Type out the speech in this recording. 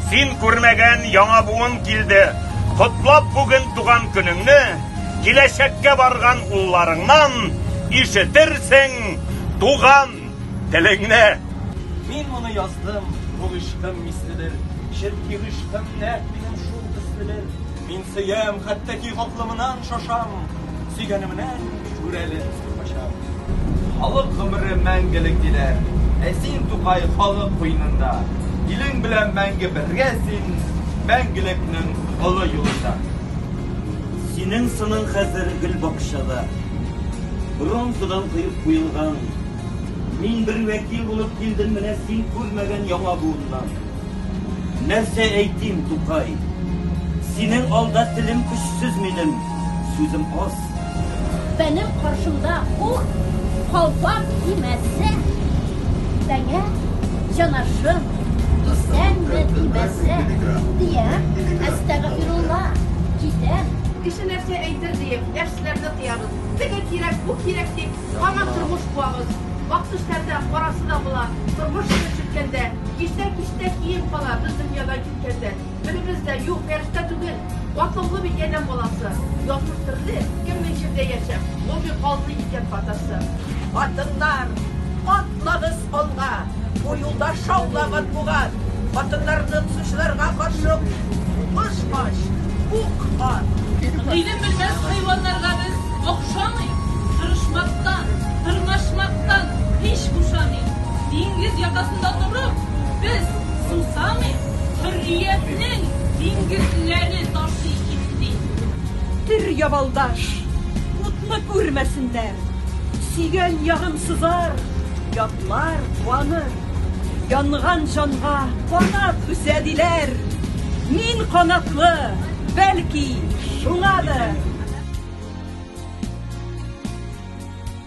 Син күрмәгән яңа буын килде. Котлап бүген туган көнеңне, киләчәккә барган улларыңнан ишетерсең туган телеңне. Мин моны яздым, бу гышкым миследер, чөнки гышкым нәкъ минем шул төследер. Мин сөям, хәтта ки хаклымнан шашам, сөйгәнемнән Шүрәле кача. Халык гомере мәңгелек диләр. Ә син, Тукай, халык куенында. Илең белән мәңге бергә син, мәңгелекнең олы юлында. Синең сының хәзер гел бакчада, бронзадан кыеп куелган. Мин бер вәкил булып килдем менә син күрмәгән яңа буыннан. Нәрсә әйтим, Тукай? Синең алда телем көчсез минем, сүзем аз. Бәнем каршымда ул калфак кимәсә, Бәңә җанашым, исәнме, имәсә, Диям, әстәгъфирулла, китәм. Кеше нәрсә әйтер диеп, яшьләрне тыябыз. Теге кирәк, бу кирәк дип, аңа тормыш куабыз. Ак төшләрдә, карасы да була. Тормыш килеп җиткәндә, Киштә-киштә кием кала, без дөньядан киткәндә. Беребез дә, юк, фәрештә түгел. Батыллы бит адәм баласы. Язмыш төрле, кем ни җирдә яшәп, логик калды икән катасы. Хатыннар, атлагыз алга! Бу юлда шаулап матбугат! Хатыннарны бозучыларга каршы сугыш ач, ук ат! Гыйлем белмәс хайваннарга без охшамыйк, тырышмактан, тырнашмактан һич бушамыйк. Диңгез якасында торып, без. Сусамый хөрриятнең диңгезләре ташый итди. Төр, ябалдаш, утны күрмәсеннәр. Сөйгән ягым сызар, ятлар, куаныр. Янган җанга канат үсә диләр. Мин канатлы, бәлки, шуңадыр.